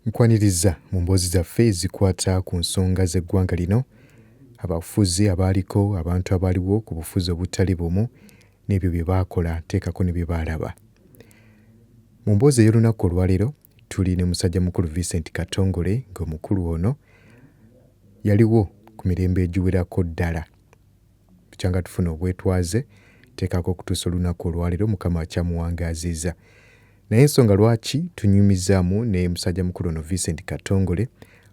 Nkwaniriza mu mboozi zaffe ezikwata ku nsonga z'eggwanga lino, abafuzi abaaliko, abantu abaaliwo ku bufuzi obutali bumu n'ebyo bye baakola teekako ne bye baalaba. Mu mboozi ey'olunaku olwaleero tuli ne musajjamukulu Vincent Katongole ng'omukulu ono yaliwo ku mirembe egiwerako ddala. Bukyanga tufuna obwetwaze tekako okutuusa olunaku olwalero mukama akyamuwangaaziiza naye ensonga lwaki tunyumizaamu ne musajja mukulu ono Vincent Katongole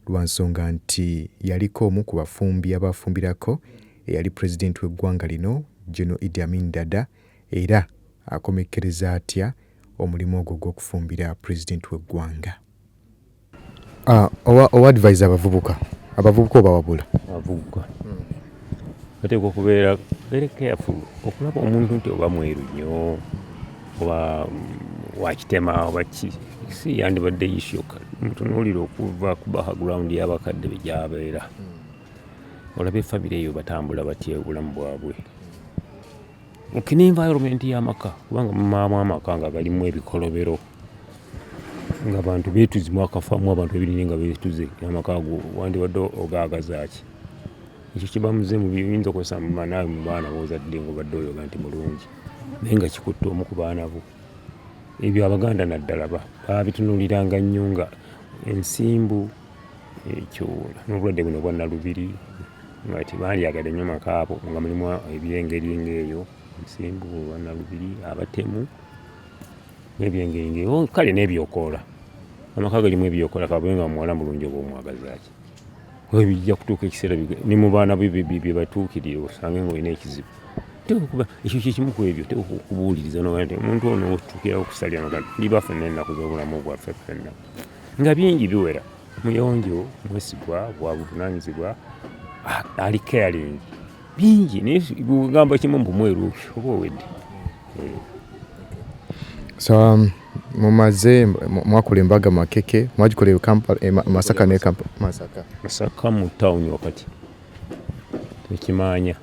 lwansonga nti yaliko omu ku bafumbi abaafumbirako eyali president w'eggwanga lino General Idi Amin Dada era akomekkereza atya omulimu ogwo ogw'okufumbira president w'eggwanga. Ah, owa owa advise abavubuka abavubuka obawabula abavubuka bateekwa okubeera very careful okulaba omuntu nti oba mweru nnyo oba mm, wakitema oba ki si yandibadde ishoka mutunuulira okuva ku background y'abakadde be gyabeera olaba efamire eyo batambula batya obulamu bwabwe mukina environment y'amaka kubanga mumaamu amaka nga galimu ebikolobero nga bantu betuzimu akafamu abantu ebinene nga betuze amaka ago wandibadde ogaagazaaki ekyo kibamuze mubiyinza okozesa mumanawe mu baana bozadde ngaobadde oyoga nti mulungi naye nga kikutte omu ku baana bo ebyo abaganda naddala babitunuliranga nnyo nga ensimbu ekyo n'obulwadde buno bwa nalubiri nga tebandyagadde nnyo maka abo nga mulimu ebyengeri ng'eyo nsimbu olwa nalubiri abatemu n'ebyengeri ng'eyo oh, kale n'ebyokoola amaka galimu ebyokola kabe nga muwala mulungi oba omwagazaki webijja kutuuka ekiseera ne mu baana bye batuukirire osange nga olina ekizibu tekuba ekyo kyekimu ku ebyo tekukubuuliriza nomuntu ono otuukira okusalira magana ndi baffe n'ennaku z'obulamu bwaffe ffenna nga bingi biwera muyonjo mwesigwa wabuvunanyizibwa ali caring bingi naye gamba kimu mbu mweru oba owedde eh. so um, mumaze mwakula embaga makeke mwagikola e e masaka ne masaka masaka mu town wakati ekimanya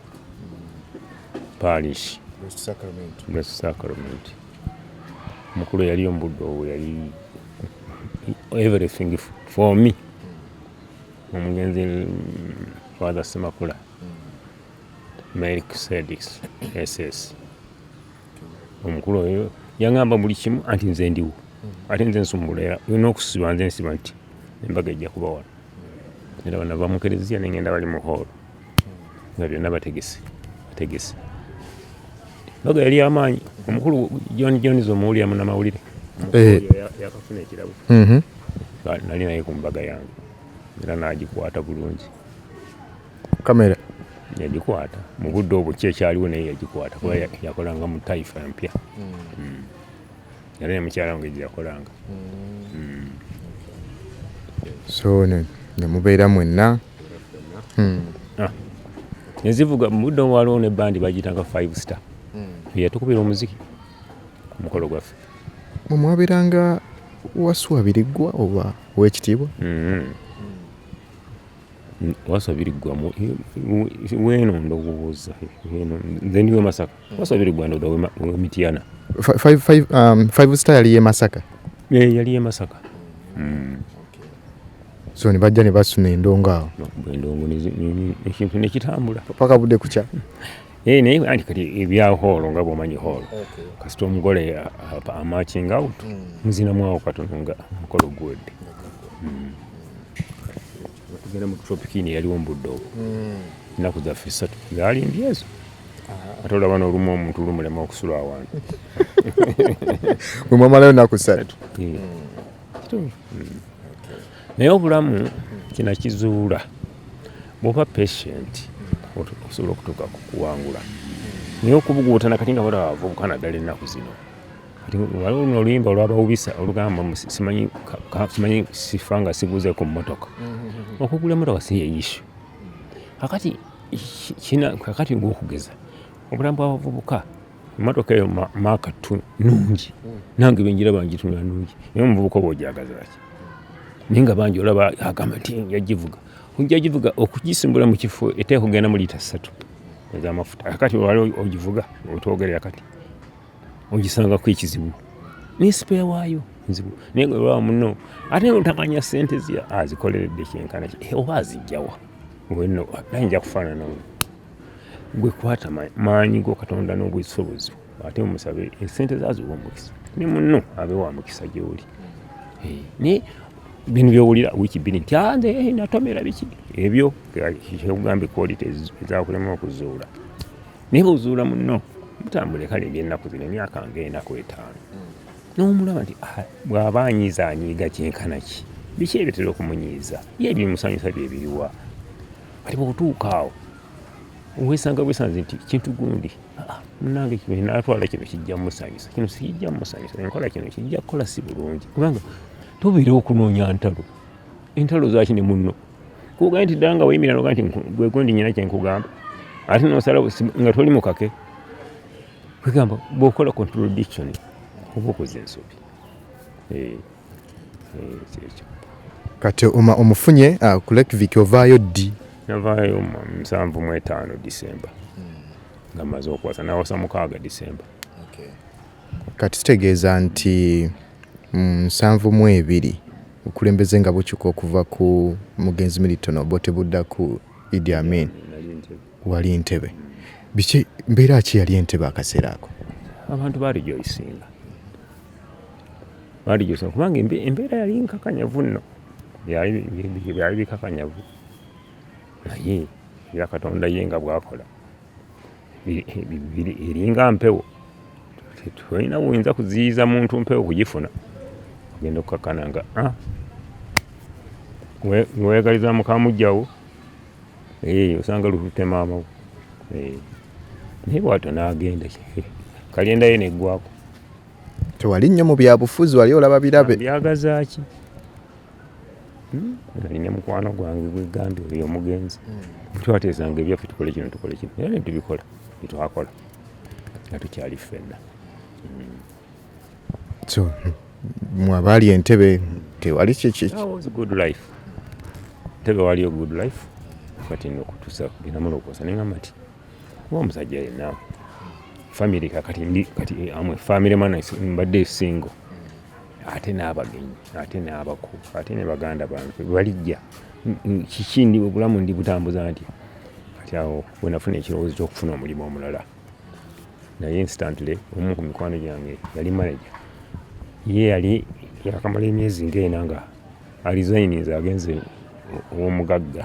parish sacrament mukulu yali ombudo owo yali everything for me omugenzi father semakula malik sedis ss omukulu oyo yangamba buli kimu anti nze ndiwo ate nze nsumbula era olina okusiba nze nsiba nti embaga ejja kuba wano era bana bamukereziya nengenda bali mu hoolo nga byonna bategese bategese baga yali amaanyi omukulu john jones omuwulira munamawulire eh. yakafuna ekirabo mhm. nali naye ku mbaga yange era nagikwata bulungi kamera yagikwata mu budde obukyekyaliwo naye yagikwata kuba yakolanga mu taifa mpya mm. Mm. era ne mukyala wange gyeyakolanga mm. so nemubeera mwenna hmm. ah. nezivuga mubudde omu waliwo ne bandi bagiyitanga five star hmm. yatukubira omuziki ku mukolo gwaffe mwemwabeeranga wasuwa biriggwa oba owekitiibwa hmm. wasuwa biriggwa weno ndowooza nze ndiwe masaka What's the Rwanda the way Mityana? Five five um five star yali ye Masaka. Yeah, yali ye Masaka. Mm. Okay. So ni bajja ne basuna endongo awo. Endongo ni ekintu ne kitambula. Paka bude kucha. Eh naye andi kati ebya holo nga bwomanyi holo. Okay. Kasita omugole amatching out. Mm. Muzina mwawo katononga mukolo gwedde. Mm. Tugenda mu tropikini yaliwo mu buddo. Mm. Ennaku zaffe ssatu zaali mbyezo. ate olaba nolumu omuntu lumulema okusula awantu mwemwamalayo naku satu hmm. hmm. naye obulamu kinakizuula bwoba patient osobola okutuuka kukuwangula naye okubuguutana kati nga bala bavubuka naddala ennaku zino waliwo luno oluyimba olwabawubisa olugamba simanyi sifa nga sibuuze ku mmotoka mm-hmm. okugula emmotoka si yeyishu kakati kina kakati ngaokugeza obulamu bwabavubuka emotoka eyo maaka tu nungi hmm. nange benjira bangitunula nungi naye omuvubuka oba ojagazaki naye nga bangi olaba agamba nti yagivuga ojagivuga okugisimbula mu kifo eteeka okugenda mu liita ssatu ezamafuta akati wali ogivuga otogerera kati ogisangako ekizibu naye sipeya waayo nzibu naye nga olwaba muno ate otakanya sente azikoleredde ah, kyenkana eh, oba azijjawa ngolino naye nja kufaanana gwe kwata maanyi go katonda n'obwesobozi ate omusabe esente eh, zaziwa omukisa ne muno abe wa mukisa gyoli eh, naye bino byowulira wiiki bbiri nti anze ah, natomera biki ebyo kyekugambye quality ezakulema okuzuula naye bwozuula munno mutambule kale ebyennaku zino emyaka nga enaku etaano n'omulaba nti ah, bw'aba anyiiza anyiiga kyenkana ki biki ebitera okumunyiiza ye ebimusanyusa bye biriwa kati bwotuuka awo wesanga wesanze nti kintu gundi ah, munange kino natwala kino kijja musanyusa kino sikijja musanyusa enkola kino kijja kukola si bulungi kubanga tubeera okunoonya ntalo entalo zaki ne munno kuga nti danga wayimira noga nti gwe gundi nyina kye nkugamba ate nosala nga toli mukake kwegamba bwokola contradiction oba okoze ensobi eh, eh, kyekyo kati oma omufunye ah, ku lake vic ovaayo ddi navaayo musanvu mu etaano disemba nga maze okwasa nawasa mukaaga disemba kati kitegeeza nti mm, nsanvu mu ebiri Obukulembeze nga bukyuka okuva ku mugenzi Milton Obote budda ku Idi Amin, wali Ntebe, biki mbeera ki yali Entebe akaseera ako? Abantu baali gyoyisinga baali gyoyisinga kubanga embeera yali nkakanyavu nno, byali bikakanyavu naye era Katonda ye nga bwakola. eringa mpewo tolina buyinza kuziyiza muntu mpewo kugifuna ogenda okukakana nga ah. weyagaliza mukamujjawo eh, osanga lutute maamawo eh. naye bwato nagenda kalendayo neggwako tewali nnyo mu byabufuzi wali olaba birabe byagazaki Hmm? nali ne mukwano gwange gwegambye oyo omugenzi hmm. twateezanga ebyaffe tukole kino tukole kino era netubikola byetwakola nga tukyali ffenna hmm. so mwabaali entebe tewali kyekyekiwaliyo good life kati nokutusa binamulokosa nengamba nti kuba omusajja yenna famire kakati ndi kati amwe famire mana mbadde single ate n'abagenyi ate n'abako ate ne baganda bange balijja kiki ndi obulamu ndi butambuza nti kati awo wenafuna ekirowoozo ky'okufuna omulimu omulala naye instantly omu ku mikwano gyange yali manaja ye yali yakamala emyezi ngaena nga alizayininze agenze ow'omugagga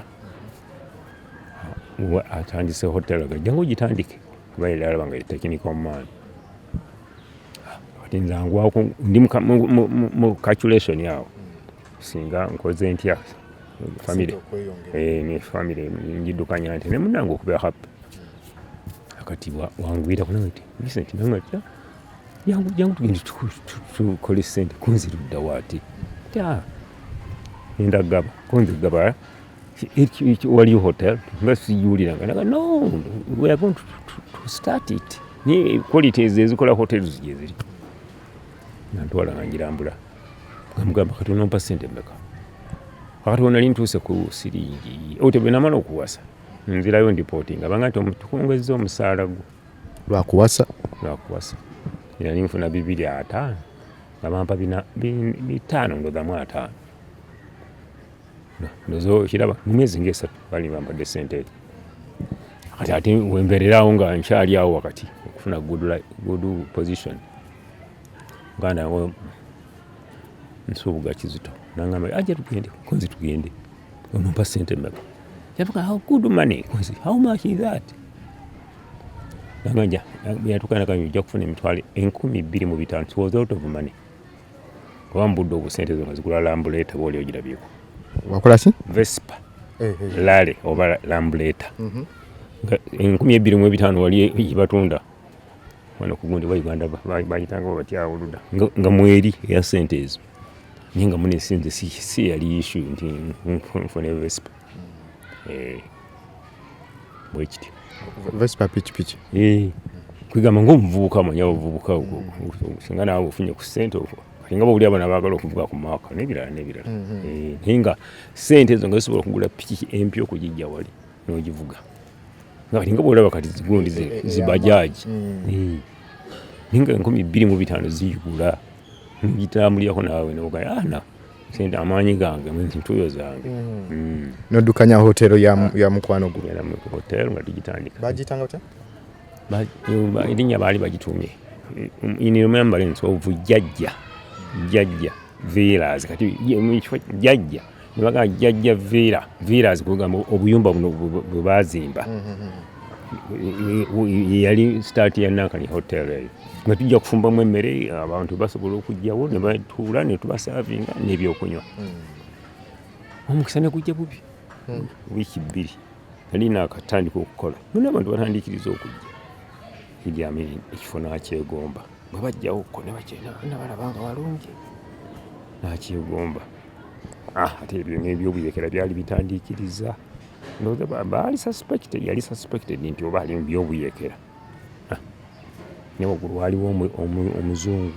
atandise hotel gajja ngaogitandike kuba yali alaba nga tekinika omumaani kati nze angwako ndi mu calculation awo singa nkoze ntya famire eh, ne famire ngiddukanya nti ne munange okubeera happy kati wangwira kuna nti Vincent nange atya yangu jangu tugende tukole sente kunzirudda waati ah, enda gaba kunzigaba It, it, well, you hotel, let's you no, we are going to, to, to start it. Ni quality ezikola hotels jeziri. Nantwala ngirambula. Ngamugamba kati onompa sente mbeka. Wakati wonali ntuuse ku siringi. Ote bwe namala okuwasa. Nzirayo ndipotinga. Banga nti omutukongezza omusaala gwo. Lwakuwasa? Lwakuwasa. Yali nfuna bibiri ataano. Nga bampa bina bitaano ndodamu ataano. okiraba mu myezi ngaesatu bali bambadde sente ezo kati ate wembeererawo nga nkyali awo wakati okufuna good position muganda nsuubuga kizito nangamba aja ah, tugende konzi tugende onompa sente meka yavuga how good money konzi how much is that nanganja yatukanakanya ojja kufuna emitwalo enkumi bbiri mu bitano was out of money kuba mubudde obusente ezo nga zigula lambuleta booli ogirabyeko wakolaki vespa eh, eh, eh. lale oba lambuleta mhm. enkumi ebbiri mu ebitaano wali batunda wano kugundi wa uganda bayitanga batya oluda nga mweri eya sente ezo naye nga munesinze si yali ishu nti nfune vespa eh, bwekiti vespa pikipiki eh, kwigamba ngaomuvubuka manya obuvubuka singa naawe ofunye ku sente okwo nga bawulira abana bagala okuvuga ku maaka nebirala nebirala mhm. eh, naye nga sente ezo nga zisobola okugula piki empya okugijja wali nogivuga nga kati nga bwolaba kati zigundi eh, eh, zibajaji mm. naye nga enkumi bbiri mu bitaano ziyigula nogitambulirako naawe nogaya ana ah, sente amaanyi gange entuuyo zange mm. mm. noddukanya hotero ah. ya mukwano gwo hotero nga tugitandika bagiyitanga otya erinnya baali bagitumye in remembrance of jajja jajja villas kati jajja nebagaa jajja villa villas kugamba obuyumba buno bwe baazimba mm-hmm. yali sitaati ya nankani hotel eyo nga tujja kufumbamu emmere abantu basobola okujjawo ne batuula ne tubasaavinga n'ebyokunywa hmm. omukisa ne gujja bubi hmm. wiiki bbiri nali naakatandika okukola nona abantu batandikiriza okujja idiamini ekifo nakyegomba bwe bajjawo ko ne bakyena nabalaba nga walungi nakyegomba ah, ate ebyo n'ebyobuyeekera byali bitandikiriza ndoza baali suspected yali suspected nti oba ali mubyobuyekera ah. ne waggulu waliwo omuzungu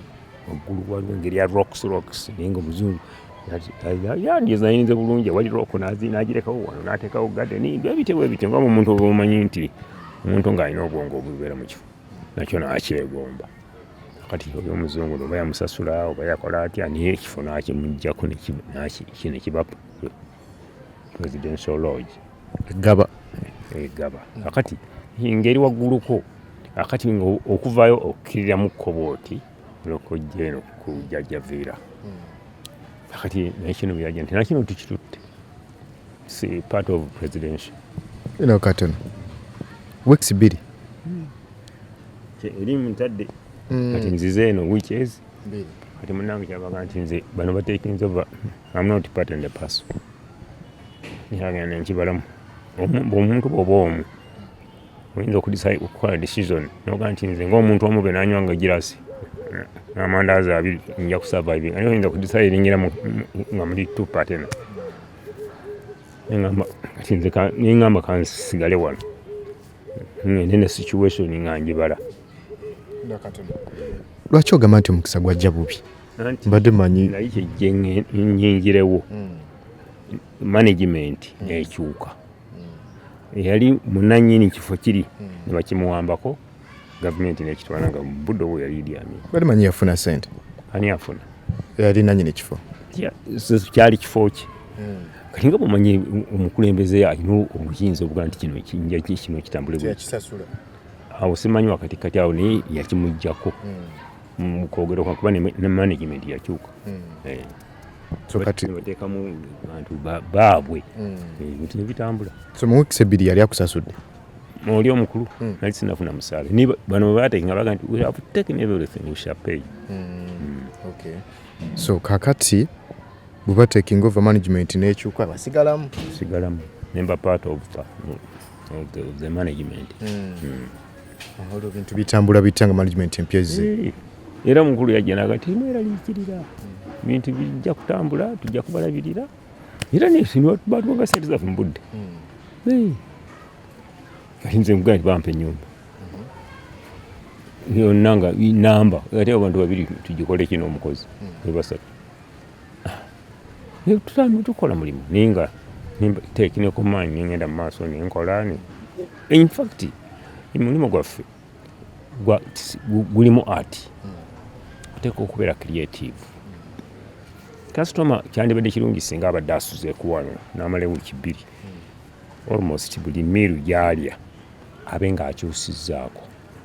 waggulu waliwo engeri ya rocks rocks naye nga omuzungu yandizayinize bulungi wali rock nagirekawo wano natekawo gadeni ebitebwa ebityo nga omuntu oba omanyi nti omuntu ng'alina obwongo obubeera mu kifo nakyo nakyegomba kati oyo omuzungu oba yamusasula oba yakola atya naye ekifo nakimujjako nekiba presidential lodge egaba egaba akati ngeri wagguluko akati okuvayo okukiriramu kkobo oti olokojja eno ku jajja viira hmm. akati naye kino byaja nti nakino tukitutte si part of presidential eno katono weeks bbiri hmm. eri mutadde hmm. kati nzize eno weeks kati munange kyabaga nti nze bano batekinze ova I'm not part and parcel. Yagenda nkibalamu. Omuntu bwoba omu oyinza okukola decision noga nti nze ngaomuntu omu be nanywa nga girasi n'amandaazi abiri nja kusurviving ani oyinza kudecide ningira nga muli two partena nengamba kansigale wano ngende ne situation nga njibala lwaki ogamba nti omukisa gwajja bubi mbadde manyi naye kyejje nyingirewo hmm. management hmm. ekyuka hmm. yali munanyini kifo kiri nebakimuwambako gavumenti nekitwala nga budde obwo yali idiami bali manyi yafuna sente ani afuna yali nanyini kifo kyali kifo ki kati nga bumanye omukulembeze alina obuyinza obuga nti kino kinja kino kitambule awo simanyi wakati kati awo naye yakimujjako mukwogera kwa kuba ne management yakyuka hmm. eh. sokateekamu bantu baabwe hmm. eh, bintu nebitambula so mu weeks ebbiri yali akusasudde oli omukulu hmm. nali sinafuna musaale ni bano bateeka nga baga nti we have taken everything we shall pay okay so kakati bweba taking over management nekyuka basigalamu sigalamu nemba part of the, of the, of the management mm. Mm. olwo bintu bitambula bitya nga management empya ezze eh, era mukulu yajja naga timweraliikirira bintu bijja kutambula tujja kubalabirira era nebatubaga sente zaffe mu budde hmm. kati nze nkugaa nti bampa enyumba yonna nga namba ate abantu babiri tugikole kino omukozi hmm. ebasatu Tutambula tukola mulimu naye nga teeki ne ku maanyi ngenda mu maaso ne nkola ne in fact omulimu gwaffe gulimu art oteeka okubeera creative kasitoma kyandibadde kirungi singa abadde asuze kuwano n'amala wiiki bbiri almost buli miiru gyalya abe ng'akyusizzaako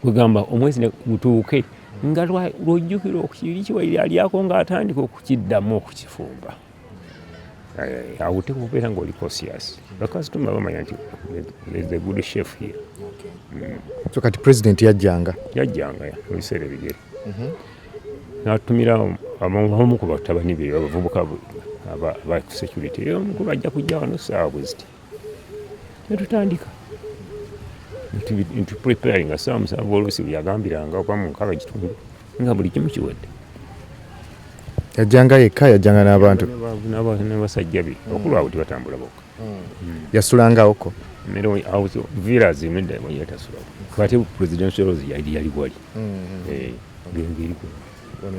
kwegamba omwezi gutuuke nga lwojjukira okukiri kiwaire alyako nga atandika okukiddamu okukifumba eh, awo oteeka okubeera nga oli cosias bakasitoma bamanya nti the good chef here mm. so kati president yajjanga yajjanga ebiseera ebigere mhm. natumira abamu ku batabani be abavubuka ba security omukuba ajja kujja wano saawa bweziti netutandika nti preparing asaa musanvu oluusi yagambiranga oba mu nkaba ekitundu nga buli kimu kiwedde yajjanga yekka yajjanga n'abantu nebasajja be bakulu abo tibatambula bokka hmm. yasulangawoko vilas yatasulawo ate presidential rose yali yali wali hmm. eh, gengeri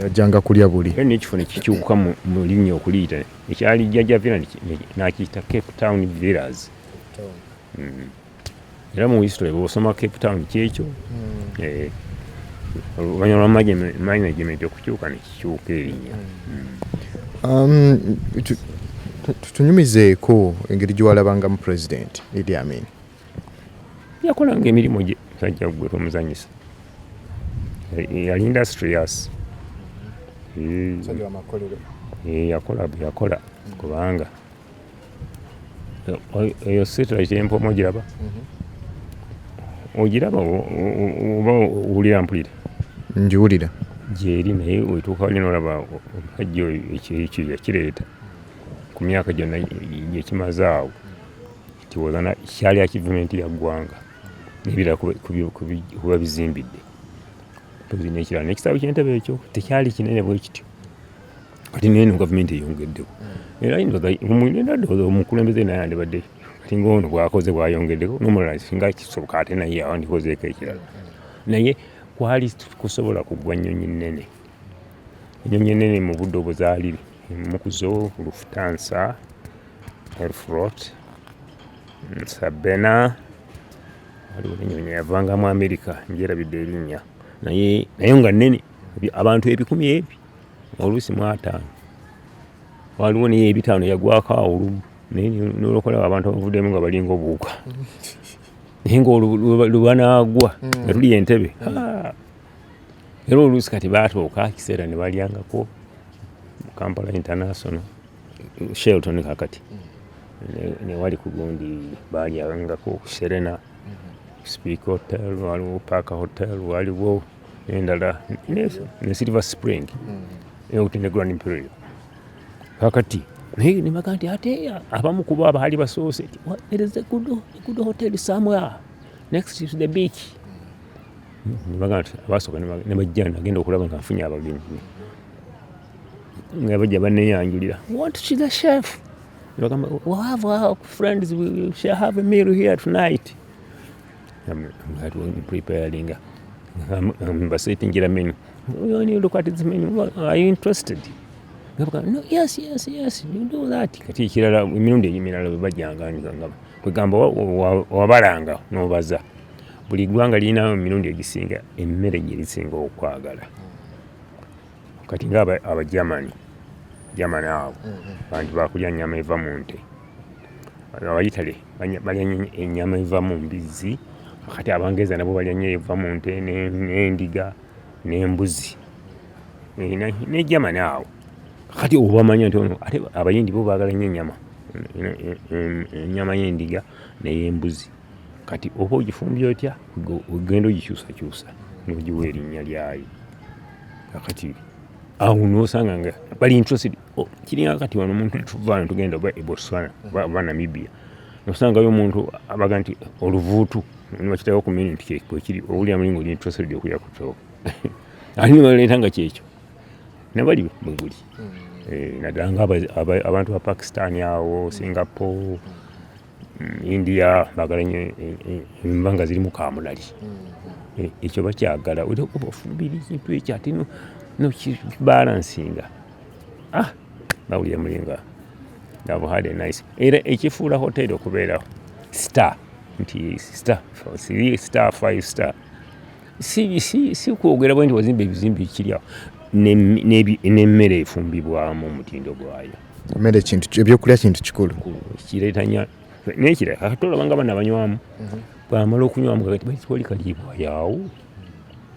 yajjanga kulya buli nekifo nekikyuka mu linnya okuliyita ekyali jjajja villa nakiyita cape town villas hmm. era mu history bwosoma cape town kyekyo hmm. eh, oluvanyuma lwa management okukyuka nekikyuka erinya hmm. um, tunyumizeeko engeri gyewalabangamu president idi amin yakolanga emirimu gye sajja gwe tomuzanyisa yali industrious yakola bweyakola kubanga eyo sitira kyempomu ogiraba ogiraba oba owulira mpulira ngiwulira gyeri naye wetuuka wali nolaba omusajja oyo ekyo yakireeta ku myaka gyonna gyekimaze awo kiwozana kyali akivumenti ya ggwanga nebira kuba bizimbidde nekirala nekisaabu kyentebe ekyo tekyali kinene bwe kityo kati neno gavumenti eyongeddeko era yinzagamulinadooza omukulembeze naye andibadde kati ngaono bwakoze bwayongeddeko nomulala singa kisoboka ate naye awandikozeeko ekirala naye kwali kusobola kugwa nnyonyi nnene Ennyonyi ennene mu budde obuzaalire emu ku zo Lufthansa, Aeroflot, Sabena waliwo n'ennyonyi yavanga mu Amerika njerabidde erinnya naye nayo nga nnene abantu ebikumi ebi oluusi mu ataano waliwo naye ebitaano yagwako awulumu naye nolokola abantu abavuddemu nga balinga obuwuka naye nga lwebanagwa nga tuli entebe hmm. ah! era oluusi kati baatuuka ekiseera ne balyangako mu kampala international shelton kakati newali ku gundi balyangako ku serena speak hotel waliwo park hotel waliwo endala ne silver spring eutine mm. grand imperial kakati naye nebaga nti ate abamu kuba abaali basoose there is a good, a good hotel somewhere next to the beach nebaga nti abasooka nebajja nagenda okulaba nga nfunye abagenyi nga bajja baneyanjulira want to the chef nebagamba we have our friends we shall have a meal here tonight preparing basetingira menu you only look at this menu are you interested no yes yes yes you do that kati ekirala emirundi emirala bebajanga kwegamba wabalanga nobaza buli ggwanga lirina mu mirundi egisinga emmere gye lisinga okwagala kati nga abagermani germani abo mm-hmm. bantu bakulya nyama eva mu nte abaitale balya enyama eva mu mbizzi kati abangereza nabo balya nyo eva mu nte n'endiga n'embuzi ne germani awo kati obamanya nti ono ate abayindi bo baagala nyo enyama enyama y'endiga ney'embuzi kati oba ogifumbye otya ogenda ogikyusakyusa nogiwa erinnya lyayo akati awo nosanga nga bali interested kiringa kati wano omuntu tuvana tugenda oba ebotswana oba namibia nosangayo omuntu abaga nti oluvuutu nibakitako ku mini nti kyekiri owulira mulinga oli interested okulya ku kyobo ate nibaleeta nga kyekyo nabali mweguli hmm. eh, naddala nga abantu ba pakistan awo singapore mm, india bagala nyo e, e, enva nga zirimu kamulali mm-hmm. e, ekyo bakyagala oliokuba ofumbira ekintu ekyo ate nokibalansinga ah nawulira mulinga have had a nice era ekifuula hoteri okubeera star nti star siri star five star si, si, si kwogera bwe nti wazimba ebizimbe ekiryawo n'emmere efumbibwamu omutindo gwayo Mmere kintu ebyokulya kintu kikulu. Kireeta nya n'ekirala kakati olaba nga bana banywamu mhm. bwamala okunywamu kakati bakitwali kaliibwa yaawo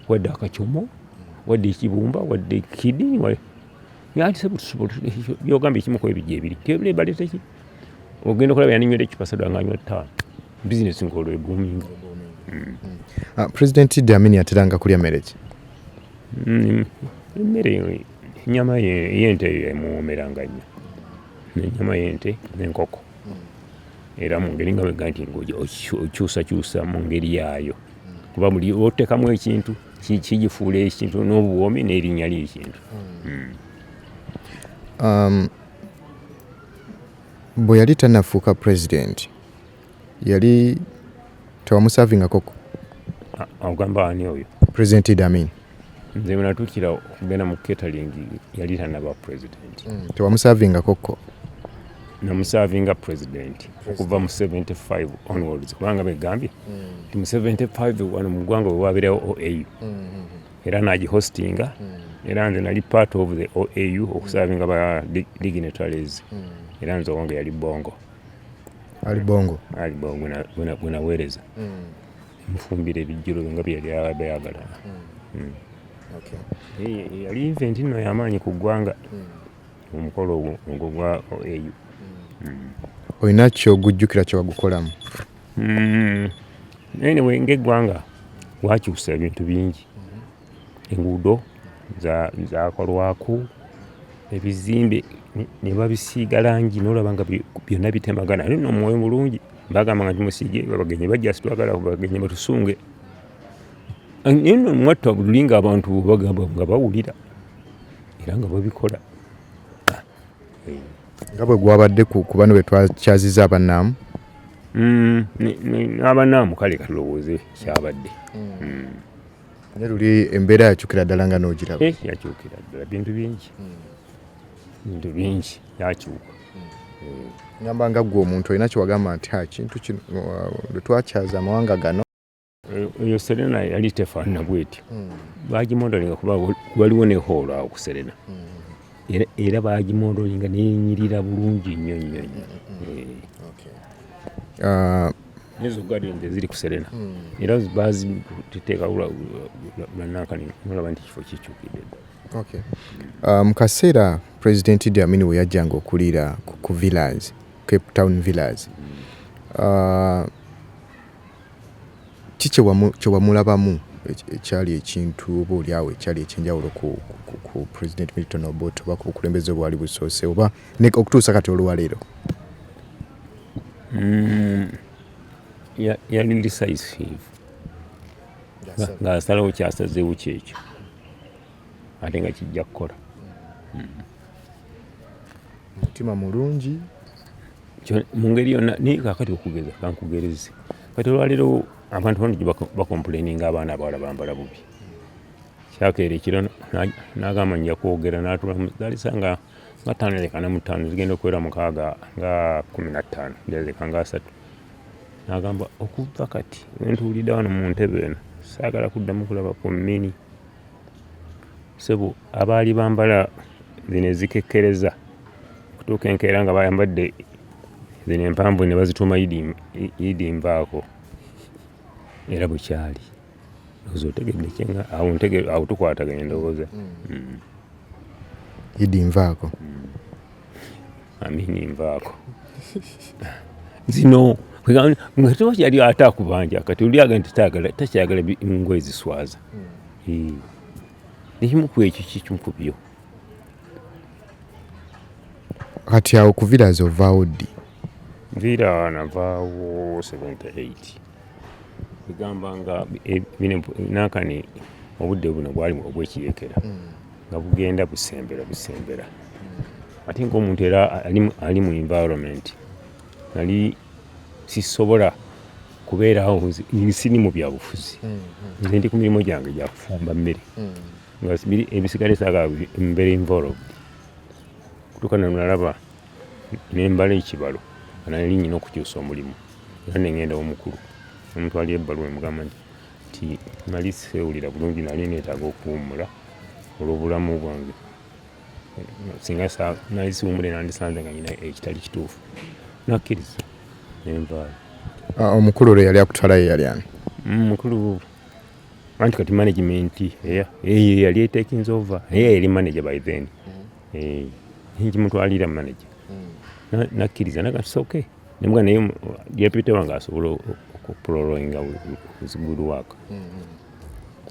wadde akacomo wadde ekibumba wadde kidini byogamba ekimu ku ebijja ebiri tebirebaleteki ogenda okulaba yaninywera ecupa sadwa nga anywa ttaano bizinesi ng'olwo eguminga mm. ah, pulezidenti idi amini ateranga kulya mmere ki mm, emmere Ennyama y'ente eyo emuwoomeranga nnyo n'ennyama y'ente n'enkoko era mu ngeri nga wega nti okyusakyusa mu ngeri yaayo kuba buli otekamu ekintu kigifuula ekintu n'obuwoomi n'erinnya ly'ekintu hmm. um, bwe yali tanafuuka pulezidenti yali tewamusavingako ko agamba ani oyo president idi amin nze bwenatukira okugenda mu catering yali tanaba president mm, tewamusavingako ko namusavinga president okuva mu 75 onwards kubanga begambye mm. nti mu 75 wano mu ggwanga wewabeerawo oau mm, mm, era nagihostinga era nze nali part of the oau okusavinga ba dignitaries era nze owange yali bongo Ali Bongo. Ali Bongo na guna guna wereza. Mm. Mfumbire bijiro nga bya bya bayagala. Mm. Mm. Okay. Eh, eh ali event no yamanyi ku gwanga. Mm. Omukolo ogwo ogwo gwa OAU. Mm. Mm. Oyina kyo gujjukira kyo bagukolamu. Mm. Anyway, ngegwanga wakyusa ebintu bingi. Mm. enguudo zaakolwako, ebizimbe ne babisiiga langi n'olaba nga byonna bitemagana naye nno mwoyo mulungi bagamba nga tumusiige babagenyi bajja sitwagala bagenyi batusunge naye nno mwatta bululi nga abantu bagamba nga bawulira era nga babikola nga bwe gwabadde ku bano be twakyaziza abanaamu mm, abanaamu kale kalowooze kyabadde mm. Mm. ne luli embeera yakyukira ddala nga n'ogiraba eh, yakyukira ddala bintu bingi hmm. bintu bingi yakyuka hmm. ngamba nga ggwe omuntu olina kyewagamba nti ha kintu kino lwe twakyaza amawanga gano eh, eyo serena yali tefaanana bwetyo hmm. bagimondalinga kuba waliwo nehoolo awo ku serena era bagimondoolinga nenyirira bulungi nnyo nnyo nnyo ah. nezo gadinze ziri kuserena hmm. era baziteekaulaba nti kifo kikyukidde ah, mu kaseera president idi amini we yajjanga okuliira ku villas cape town villas hmm. ah, Ki kye wamulabamu ekyali ekintu oba oli awo ekyali ekyenjawulo ku ku President Milton Obote oba ku bukulembeze obwali busoose oba okutuusa kati olwaleero? Mm, yali decisive ng'asalawo kyasazeewo kyekyo ate nga kijja kukola. Mm. Mutima mulungi. mu ngeri yonna naye kakati okugeza kankugereze kati olwaleero abantu bangi bakomplaininga abaana abawala bambala bubi kyakeera ekiro nagamba nja kwogera natulazalisa nga nga taano leka ne mutaano zigenda okuwera mukaaga nga kumi na ttaano leka nga asatu nagamba okuva kati wentuwulidde wano mu ntebe eno saagala kuddamu kulaba ku mini Ssebo abaali bambala zino ezikekkereza okutuuka enkeera nga bayambadde zino empanvu ne bazituuma idi idi nvaako era bukyali ozo otegedde kyenga awo ntegedde awo tukwatagana endowooza mm. idi nvaako mm. amini nvaako zino nga tuba kyali ate akubanja kati oli aga nti takyagala ngoye ziswaza hmm. ekimu ku ekyo kikimu ku byo kati awo kuviraza ovaawo ddi vira navaawo 78 egamba nga e, nakani obudde buno bwalimu obwekirekera hmm. nga bugenda busembera busembera ate ngaomuntu era ali mu environment nali sisobola kubeerawo siri mu byabufuzi hmm, hmm. nze ndi ku mirimu gyange gyakufumba mmere hmm. nga ebisigale saga mbeera involved kutuuka nanalaba nembala ekibalo nali nyina okukyusa omulimu era nengenda omukulu omutwalira ebbaluwa emugamba nti nti nali sifeewulira bulungi nali neetaaga okuwummula olw'obulamu bwange singa nali siwummule nandisanze nga nyina ekitali kituufu nakkiriza nenvaayo ah, omukulu olwo yali akutwalayo yali ani mm, mukulu anti kati management eyo yali etekinze ova naye yali manager by then mm. eh, nkimutwalira manager mm. nakkiriza nagati soke Nembwa naye deputy wange asobola okuproloinga good work mm-hmm.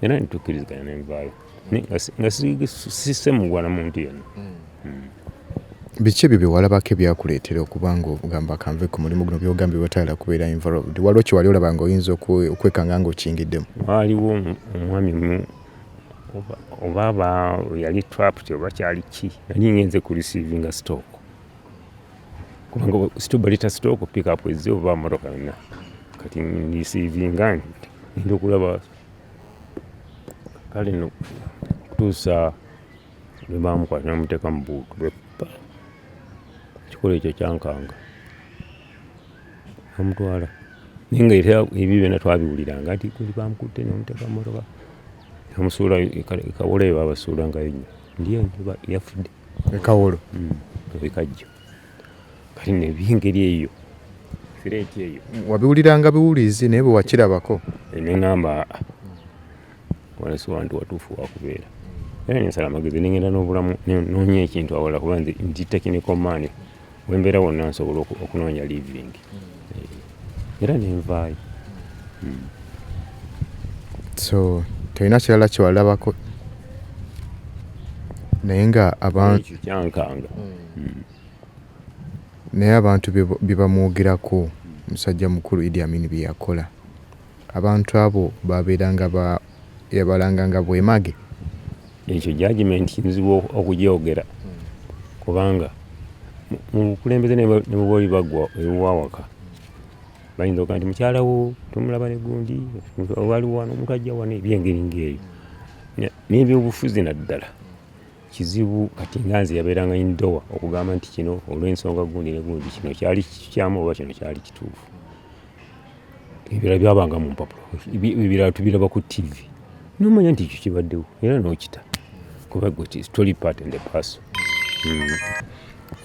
era nitukiriziganya nenvaalo nga sisemugwana muntu yena mm. mm. biki ebyo byewalabako ebyakuleetera okuba nga ogamba kanve ku mulimu guno byogambye batayala kubeera involved waliwo kyewali olaba nga oyinza okwekanga nga okingiddemu waaliwo omwami mu oba aba yali trapt oba kyali ki nali ngenze ku receivinga stock kubanga sito baleta sitooko pikapu ezze oba motoka yonna kati ndisiivinga ndi okulaba kale no kutuusa lwe baamukwata namuteeka mu buutu beppa ekikolo ekyo kyankanga amutwala naye nga era ebyo byona twabiwuliranga nti kuli bamukutte namuteeka mu motoka namusuula e, e kawolayo babasuula ngayo nyo Ndiyo njuba yafudde. Ekawolo. Mm. Ebikajjo. Kati ne bingeri eyo. Fireti eyo. Wabiwuliranga biwulizi naye bwe wakirabako. Eh, ne ngamba wala si wantu watuufu wakubeera. Era ne nsala amagezi ne ngenda n'obulamu n'onya ekintu awala kuba nti technical man. wembeera wonna nsobola okunoonya living eh, era nenvaayo hmm. so tolina kirala kyewalabako naye nga abantu kyankanga hmm. Hmm. naye abantu bebamwogerako musajja mukulu idi amini byeyakola Abantu abo baabeeranga ba, yabalanganga bwemage. Ekyo judgement nzibu okugyogera kubanga mu bukulembeze ne bwe oli bagwa ewawaka bayinza okuga nti mukyala wo tomulaba ne gundi waliwo wano omuntu ajja wano ebyengeri ng'eyo n'ebyobufuzi naddala kizibu kati nga nze yabeeranga indowa okugamba nti kino olw'ensonga gundi ne gundi kino kyali kikyamu oba kino kyali kituufu ebirala byabanga mu mpapula ebirala tubiraba ku tv nomanya nti ekyo kibaddewo era nokita kuba story part and the paso hmm.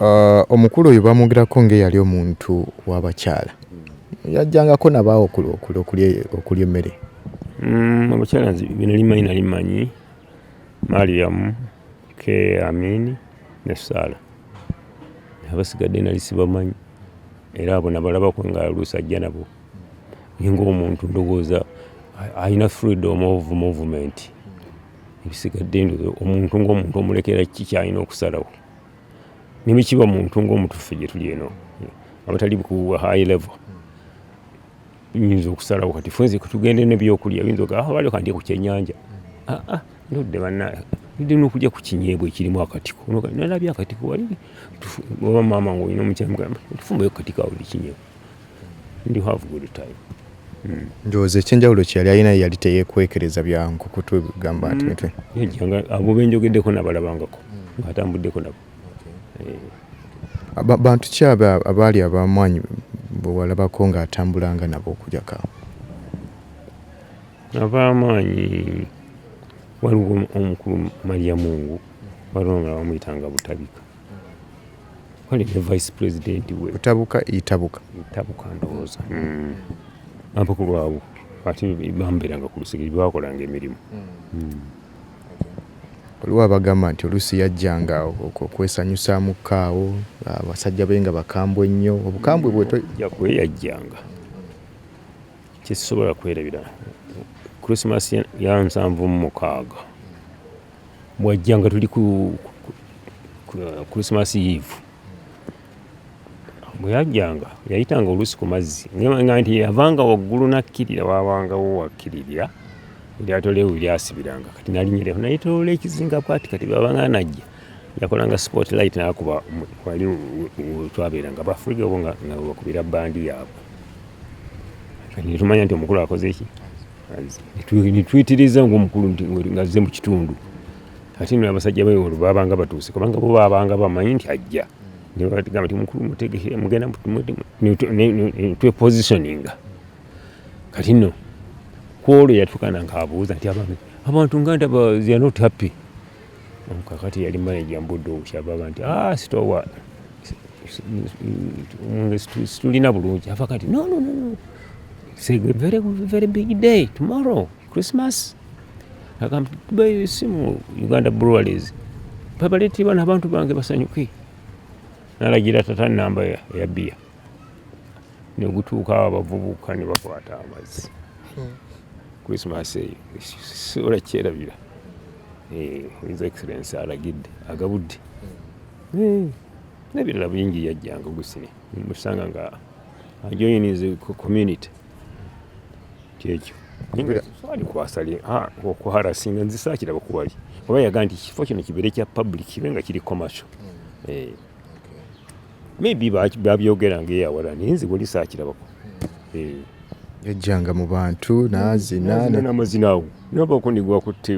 uh, omukulu oyo bamwogerako ngaeyali omuntu wabakyala yajjangako nabaawo okulya emmere hmm, abakyala bino limanyi nali manyi mariamu ke amini ne saala abasigadde nali sibamanyi era abo nabalabako nga lusajja nabo ninga omuntu ndowooza alina freedom of movement ebisigadde omuntu ngaomuntu omulekera ki kyalina okusalawo nebekiba muntu ngaomutufe gyetuli eno abatali ku high level nyinza okusalawo kati fenze kutugende nebyokulya yinza ogaa ah, wali kandye ku kyenyanja ah, ah, ndudde banaye ndudde nokulya ku kinyeebwa ekirimu akatiko nalabye akatiko wali oba maama nga olina omukyamugamba tufumbayo kukatiko awo li kinyeebwa ndi have good time hmm. ndowooza ekyenjawulo kyeyali alina yali teyekwekereza byankukutu gamba nti hmm. mitwe abo benjogeddeko nabalabangako hmm. ngatambuddeko nabo bantu ki abo abaali abamwanyi bwewalabako nga atambulanga nabo okujaka abamaanyi waliwo omukulu maria mungu waliwo nga bamuyitanga butabika wali ne vice president we butabuka itabuka itabuka ndowooza hmm. abakulu abo ate bambeeranga ku lusegere bakolanga emirimu hmm. Hmm. Waliwo abagamba nti oluusi yajjanga okwesanyusaamukko awo, abasajja be nga bakambwe nnyo. Obukambwe bwe. Tujja kwe yajjanga. Kye sisobola kwerabira Christmas ya nsanvu mu mukaaga bw'ajjanga tuli ku Christmas Eve. bwe yajjanga yayitanga oluusi ku mazzi nga nti yavanga waggulu n'akkirira waabangawo wakkirira eryato lyewe lyasibiranga kati nalinyireko nayetoloola ekizinga bwati kati bwabanga najja yakolanga sport light nakuba wali twabeeranga bafriga obo nga bakubira bandi yaabwe kati netumanya nti omukulu akoze ki netuyitiriza ngaomukulu nti ngazze mu kitundu ate nno abasajja be olwo baabanga batuuse kubanga bo baabanga bamanyi nti ajja nebatugamba nti mukulu mutegeke mugenda twepositioninga kati nno kwolwo yatukana nkaabuuza nti abaami abantu nga ndaba they're not happy kakati yali manaja mbudde obukyababa nti ah sitowa situlina bulungi ava kati no no no it's a very, very big day tomorrow Christmas akambe simu Uganda Breweries babalete bana abantu bange basanyuke nalagira tata namba ya, ya bia negutuuka awo abavubuka ne bakwata amazzi hmm. Christmas eyo sobola kyerabira eh, his excellence alagidde agabudde hmm. eh, nebirala bingi yajjanga gusini musanga nga ajoyinize community kyekyo okuharasinga nzisakiraba kuwali oba yaga nti ekifo kino kibeere kya public kibe nga kiri commercial hmm. eh. maybe babyogera ngaeyawala naye nze wali sakirabako hmm. eh. yajjanga mu bantu nazina namazina awo nabako nigwakutte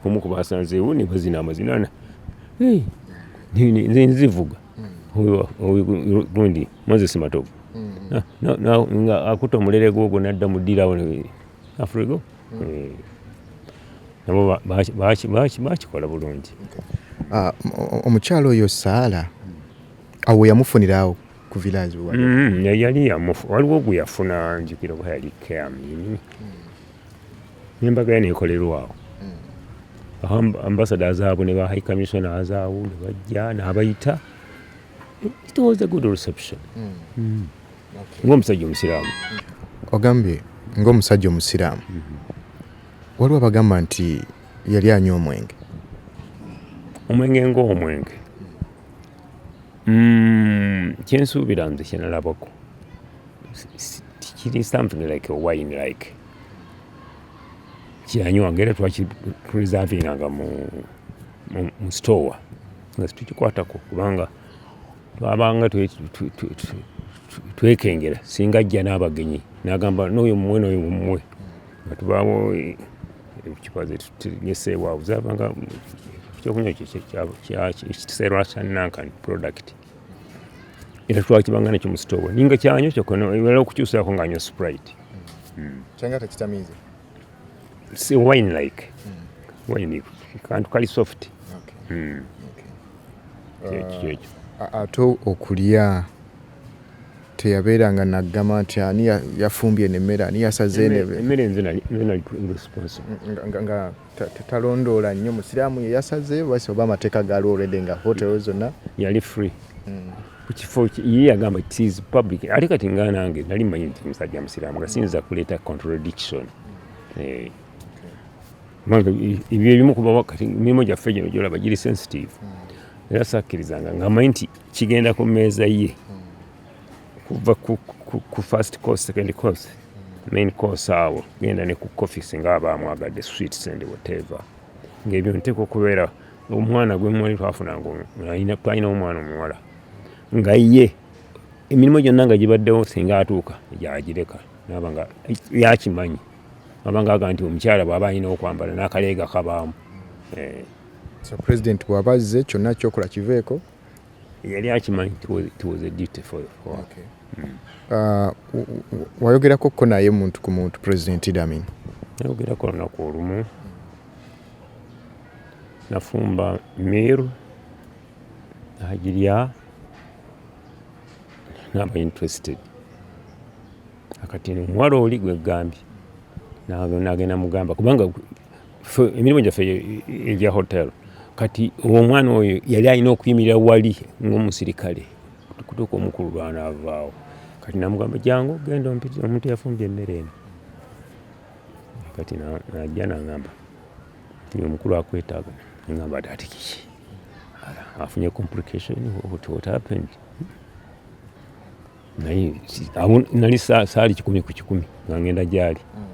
omu kubasanzeewo nibazina amazinana eh. nzivuga huyo gundi Moses Matovu mm. na, na, na, nga akuta omulere gwogwo nadda mu ddirawo afurigo mm. eh. nabo bakikola bulungi ah, omukyalo oyo saala awo yamufuniraawo ku village mm-hmm. yali yamufu waliwo gwe yafuna njukira oba yali keamini mm. nembaga yano ekolerwaawo hmm. ambasada azaabu ne ba high commissioner azaabu ne bajja n'abayita it was a good reception hmm. Hmm. ng'omusajja omusiraamu ogambye ng'omusajja omusiraamu waliwo abagamba nti yali anywa omwenge omwenge ng'omwenge kyensuubira nze kyenalabako kiri something like a wine like kyeyanywanga era twakipreservinganga mu store nga situkikwatako kubanga twabanga twekengera singa ajja n'abagenyi nagamba noyo mumwe noyo mumwe nga tubaawo ekipa zetutegeseewo awo zabanga ekyokunywa ekiseerwa kya nankan product era twakibanga nekyo mu sitoowa ninga kyanyo kyokonoera okukyusaako ngaanywa sprite hmm. kyanga tekitamiiza si wine like hmm. wine kantu kali soft hmm. kyekyo uh, ate okulya teyabeeranga naggama nti ani yafumbye nemmere ani yasaze nemmere nze nali responsible talondoola nnyo musiraamu ye yasaze basi oba amateeka gaaliwo already nga hotel zonna yali free mm. kukifo ye yagamba it is public ate kati nga nange nali manyi nti musajja musiraamu nga siyinza kuleeta contradiction eh. ebyo ebimu kuba kati mirimu gyaffe gino gyolaba giri sensitive mm. era sakkirizanga nga manyi nti kigenda ku mmeeza ye mm. kuva ku, ku, ku first course second course main course awo genda ne ku coffee singa aba amwagadde sweets and whatever ngaebyo nteeka okubeera omwana gwe mwali twafunanga twalina omwana omuwala nga ye emirimu gyonna nga gibaddewo singa atuuka gyagireka naba nga yakimanyi abanga aga nti omukyala bwaba alina okwambala n'akaleega kabaamu eh. so president bwaba azze kyonna kyokola kiveeko yali akimanyi it was a duty for, for okay. mm. uh, wayogerako ko naye muntu ku muntu president Idi Amin nayogerako lunaku olumu nafumba miru nagirya naba interested akati omuwala oli gwegambye nagenda mugamba kubanga emirimu gyaffe egya hotel kati omwana oyo yali alina okuyimirira wali ngaomusirikale kutuuka omukulu lwanaavaawo kati namugamba jangu genda omuntu yafumbye emmere eno kati najja nangamba nti omukulu akwetaaga nangamba ti ati kiki afunye complication what happened naye nali saali kikumi ku kikumi nga ngenda gyali mm.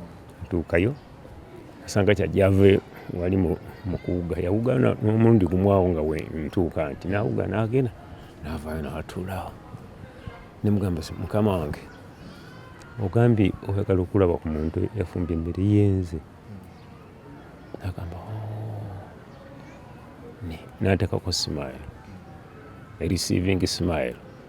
ntuukayo asanga kyajave wali mukuwuga yawugana nomulundi gumwawo nga ntuuka nti nawuga nagenda navayo natulaawo nemugamba mukama wange ogambye oyagala okulaba ku muntu yafumba emmere yenze nagamba oh. natekako smile ereceiving smile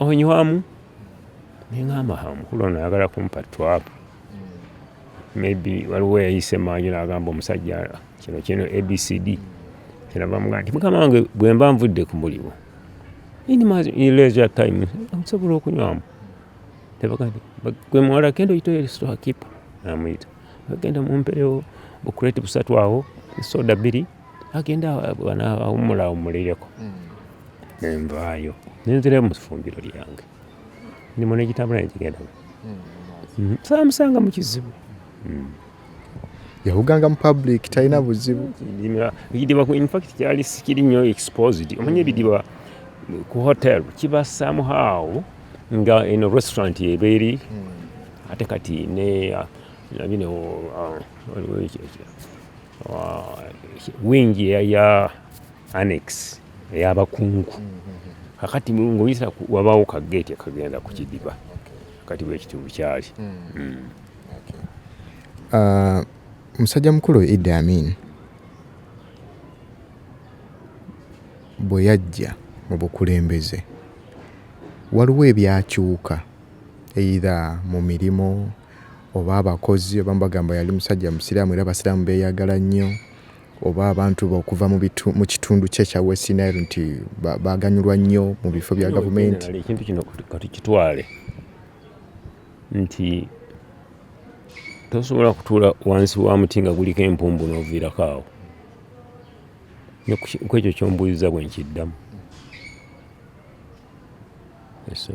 onywamu nengamba omukulu ono ayagala kumpa twapu maybe waliwo yayise maanyi nagamba omusajja kino kino abcd kyenabamuga nti mukama wange bwemba nvudde ku mulimu inleasure time nsobola okunywamu gwemuwala kenda oyita estorekeeper namuyita agenda mumpeewo bukureti busatu awo soda bbiri agenda awummula awummulireko ne nvaayo ne nzirayo mu fumbiro lyange ndimo n'ekitambula ne kigenda hmm, saamusanga mu kizibu hmm. yawuganga mu public talina buzibu ekidiba infact kyali sikiri nnyo exposed omanya ebidiba ku hotel kiba somehow nga eno restaurant ebeeri hmm. ate kati ne uh, uh, wingi ya annex eyabakungu kakati ngaoyisa wabawo kageti akagenda ku kidiba kati bwekitundu kyali hmm. Hmm. Uh, musajja mukulu idi amin bwe yajja mu bukulembeze waliwo ebyakyuka either mu mirimu oba abakozi abamu bagamba yali musajja musiraamu era Abasiraamu beeyagala nnyo, oba abantu be okuva mu bitu mu kitundu kye ekya West Nile nti ba- baaganyulwa nnyo mu bifo bya Kino gavumenti. generally ekintu kino katukitwale nti tosobola kutuula wansi wa muti nga guliko empumbu n'oviirako awo Ne ku ki- ku ekyo kyombuuziza bwe nkiddamu Yes, sir.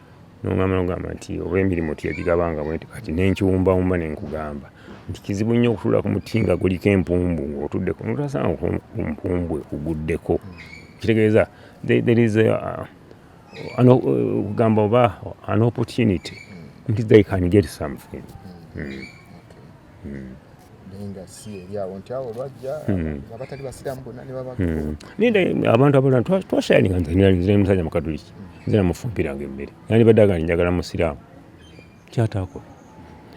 Nongamba nogamba nti oba emirimu tiyagigabanga bwenti kati nenkiwumbawumba nenkugamba nti kizibu nnyo okutula ku muti nga guliko empumbu ngaotudde kunotasanga kumpumbu ekuguddeko kitegeeza there is uh, kugamba oba an opportunity nti they can get something mm. naye abantu abalala twashayininga nze musajja mukatuliki nze namufumpiranga emmere yani baddaga nti njagala musiraamu kyataako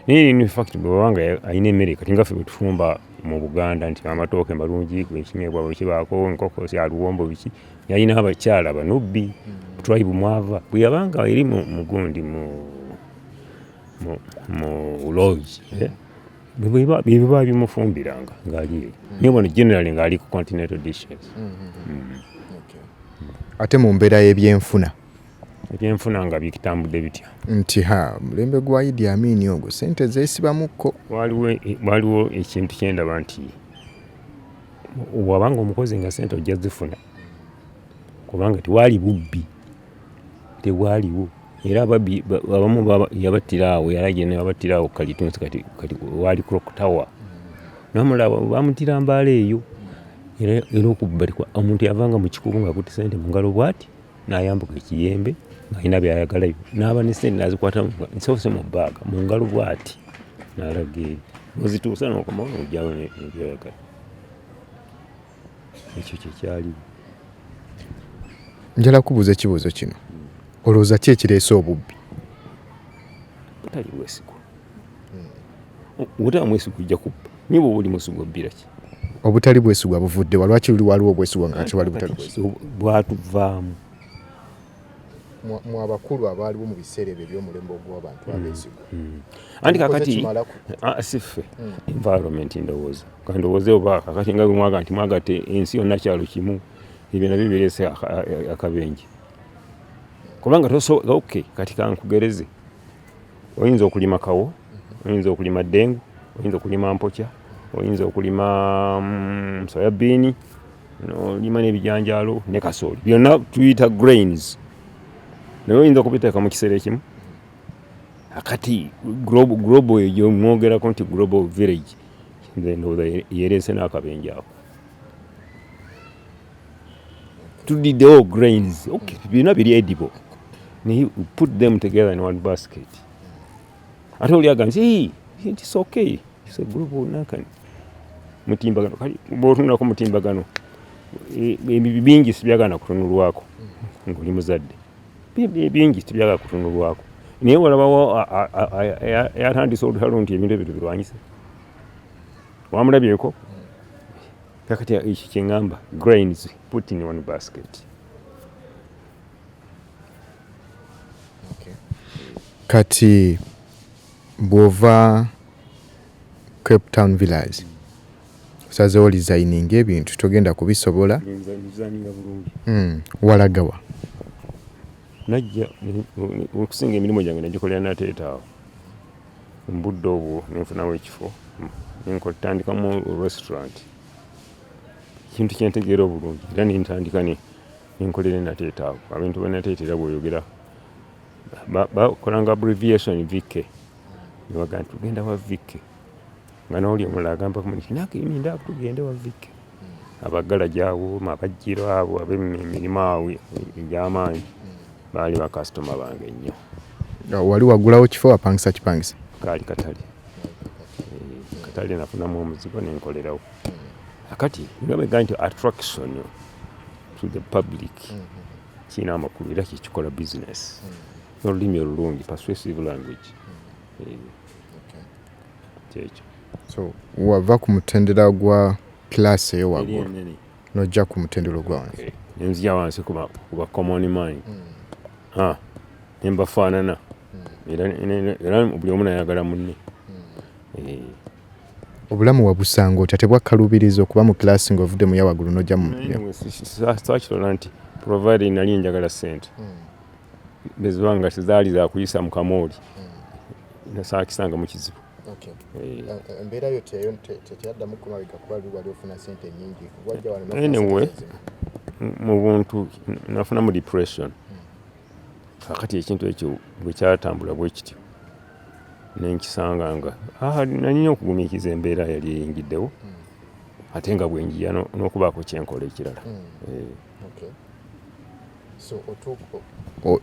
naye in fact bwewanga alina emmere kati nga ffe bwetufumba mu buganda nti amatooke malungi gwekinyebwa bwekibaako enkoko kyaluwombo biki yalina abakyala banubbi hmm. twaibu mwava bweyabanga eri mugundi mu mu lodge eh? byebiba bimufumbiranga ngaaliyo mm. niyo bona generally ngaali ku continental dishes mm, mm, ate mu mbeera y'ebyenfuna ebyenfuna nga bitambudde bitya nti ha mulembe gwa idi amini ogwo sente zesibamukko waliwo ekintu kyendaba nti wabanga omukozi nga sente ojja zifuna kubanga tewali bubbi tebwaliwo era ababbi abamu yabattira awo yalaje nebabattira awo kalitunsi kati kati waali clock tower nomulaba bamuttira mbaala eyo era era okubba omuntu yavanga mu kikubo ngaakutte sente mu ngalo bwati nayambuka ekiyembe ng'alina byayagalayo n'aba ne sente nazikwata nsoose mu bbaaga mu ngalo bwati nalaga eyo ozituusa nokomawo nojawo nebyoyagala ekyo kyekyali njala kubuuza ekibuuzo kino olowooza ki ekireese obubbi butali bwesigwa obutaba mwesigwa ojja kubba nyo bwoba oli mwesigwa obbira ki obutali bwesigwa buvudde wa lwaki luli waliwo obwesigwa nga ati wali butali bwatuvaamu mu abakulu abaaliwo mu biseera ebyo ebyomulembe ogw'abantu hmm. abeesigwa hmm. anti kakati ah, siffe hmm. environment ndowooza kandowooze oba kakati nga bwemwaga nti mwagate ensi yonna kyalo kimu ebyo nabyo bireese akabenje kubanga ok kati kankugereze oyinza okulima kawo mm-hmm. oyinza okulima dengu oyinza okulima mpokya oyinza okulima mm, soyabiini nolima n'ebijanjaalo ne kasooli byonna tuyita grains naye oyinza okubiteeka mu kiseera ekimu akati global eyo mwogerako nti global village ndowooza yereese n'akabenja ako tudiddewo grains byonna biri edible naye put them together in one basket ate oli agamba nti it's okay it's a group nakani mutimbagano kali bwotunula ku mutimbagano e, ebibi bingi sibyagana kutunulwako ngoli muzadde bibi bingi sibyagana kutunulwako naye walabawo yatandise olutalo nti ebintu ebyo tubirwanyise wamulabyeko kakati ekyo kyeŋamba grains put in one basket Kati bwova Cape Town Village osazeewo lizayininga ebintu togenda kubisobola hmm, walagawa najja okusinga emirimu gyange nagikolera nateetaawo mbudde obwo nenfunawo ekifo nenkotandikamu restaurant ekintu kyentegeera obulungi era nentandika Enkola ena tetaago abintu banateetera bwoyogera bakolanga abbreviation VK nebaga nti tugenda wa VK nga nawuli omulala agamba kumunakimindao tugende wa VK abagala gyawo mabajjiro abo abemirimu awo egyamaanyi baali bakasitoma bange nnyo wali wagulawo kifo wapangisa kipangisa kaali katale eh, katale nafunamu omuzigo nenkolerawo kati nabega nti attraction to the public kirina amakulu era kyekikola business n'olulimi olulungi persuasive language eh, kyekyo so wava ku mutendera gwa class eyo waggulu nojja ku mutendera ogwa wansi nenzija wansi kuba common mind hmm. nembafaanana hmm. era buli omu nayagala munne hmm. eh. Obulamu wabusanga otya? Tebwakkaluubiriza okuba mu kilaasi ng'ovudde mu ya waggulu n'ojja mu. Saakirola nti provided nali njagala ssente hmm. eziba nga tezaali za kuyisa mu kamooli hmm. nasaakisanga mu kizibu. Eh. Eh, eh, embeera yo teyaddamu kumabega kuba wali ofuna ssente nnyingi. Anyway, mu buntu nafunamu depression. Hmm. Kakati ekintu ekyo bwe kyatambula bwe kityo. nenkisanga nga nanyinyi okugumiikiza embeera yali eyingiddewo hmm. ate nga bwenjiya n'okubaako kyenkola ekirala hmm. eh.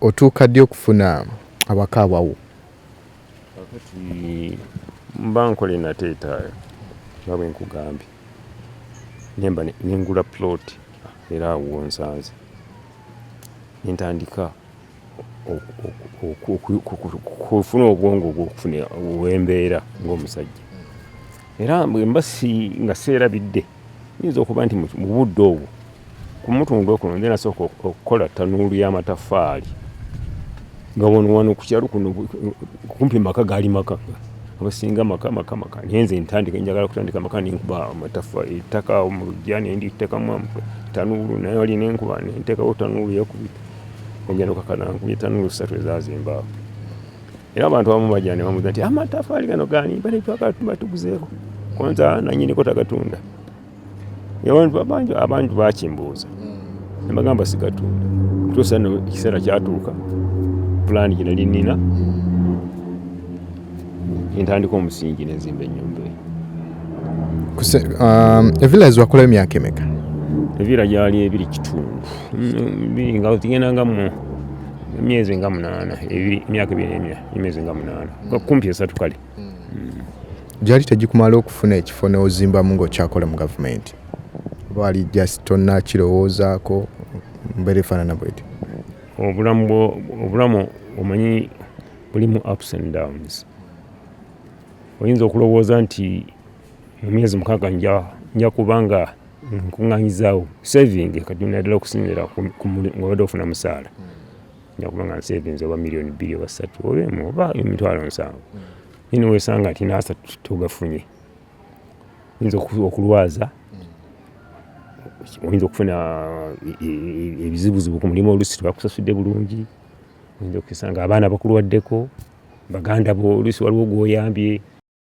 otuuka ddi okufuna abaka abawo kakati mba nkola enateetaayo nga bwe nkugambye nemba nengula plot era awo wonsanze nentandika okufuna obwongo gwokufuna wembeera ngaomusajja era bwemba nga seerabidde nyinza okuba nti mu budde obwo ku mutundu okuno nze nasooka okukola tanuulu y'amataffaali nga wano wano ku kyalo kuno kumpi maka gaali maka abasinga maka maka maka naye nze ntandika njagala kutandika maka nenkuba amataffa ettaka mu lujja nenditekamu tanuulu naye wali nenkuba nentekawo tanuulu yakubita Ogenda okakana nkumi ttaano mu ssatu ezaazimba awo. Era abantu abamu bajja ne bamubuuza nti amataffaali gano gaani bali twagala tuba tuguzeeko konza nannyiniko tagatunda. Abantu baakimbuuza ne bagamba sigatunda. Tuusa nno ekiseera kyatuuka pulaani gino linnina. entandika omusingi nenzimba enyumba um, evilla ezwakulayo emyaka emeka evilla gyali ebiri kitundu biri nga tigenda nga mu emyezi nga munaana emyaka ebiri emyezi nga munaana kumpi esatu kale gyali tegikumala okufuna ekifo neozimbamu ngaokyakola mu gavumenti baali just tonna kirowoozaako mbeera efaanana bweti obulamu omanyi Mulimu ups and downs. Oyinza okulowooza nti mu myezi mukaaga nja kuba nga nkuŋŋaanyizaawo saving kati naddala okusinziira ng'obadde ofuna musaala nja kuba nga nsavings oba miliyoni bbiri oba ssatu oba emu oba emitwalo nsanvu naye niweesanga nti n'asatu togafunye oyinza okulwaza oyinza okufuna ebizibuzibu ku mulimu olusi tebakusasudde bulungi oyinza okisanga abaana bakulwaddeko baganda bo oluusi waliwo gwoyambye